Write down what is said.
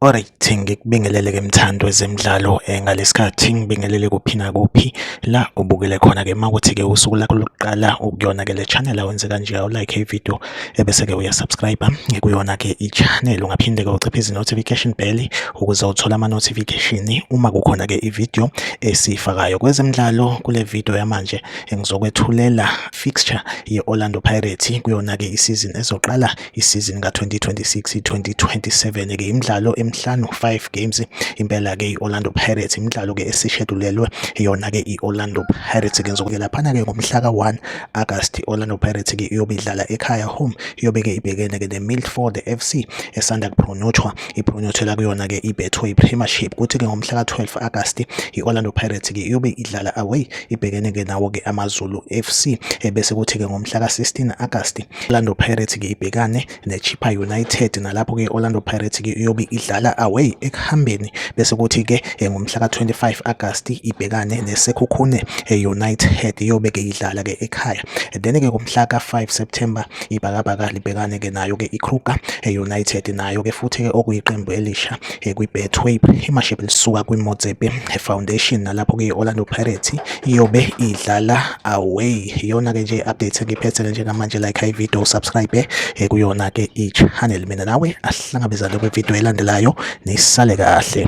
Alright ngikubingelele ke mthando wezemidlalo eh, ngalesikhathi ngibingelele kuphi nakuphi la ubukele khona ke makuthi ke usuku lakho lokuqala ukuyona ke le channel awenze kanje awu like i video ebese-ke uyasubscribe kuyona-ke i-channel ungaphinde-ke uciphe izi-notification bell ukuze uthole ama-notification uma kukhona-ke ividiyo esiyifakayo kwezemidlalo kule vidiyo yamanje ngizokwethulela fixture ye-orlando pirates kuyona-ke isizini ezoqala isizini ka-2026 2027-ke imidlalo emihlanu 5 games impela-ke i-orlando pirates imidlalo-ke esishedulelwe yona-ke i-orlando pirates-ke ngizokuyelaphana-ke ngomhla ka-1 August Orlando Pirates ke iyobe idlala ekhaya home iyobe ke ibhekene ke neMilford FC esanda kuphronyothwa iphronyothela kuyona ke iBetway Premiership kuthi ke ngomhla ka-12 August i-Orlando Pirates ke iyobe idlala away ibhekene ke nawo ke AmaZulu FC ebese kuthi ke ngomhla ka-16 August Orlando Pirates ke ibhekane neChippa United nalapho ke Orlando Pirates ke iyobe idlala away ekuhambeni bese kuthi ke eh, ngomhla ka-25 August ibhekane neSekhukhune eh, United iyobe ke idlala ke ekhaya then ke ngomhla ka-5 September ibhakabhaka libhekane ke nayo ke iKruger eh, United nayo ke futhi ke okuyiqembu elisha eh, kwi-betway imashibe lisuka kwimotsepe foundation nalapho-ke i-orlando pirates iyobe idlala away iyona-ke nje i-update engiphethele njengamanje like high video subscribe eh, kuyona-ke i-channel mina nawe asihlangabezane kwividiyo elandelayo nisale kahle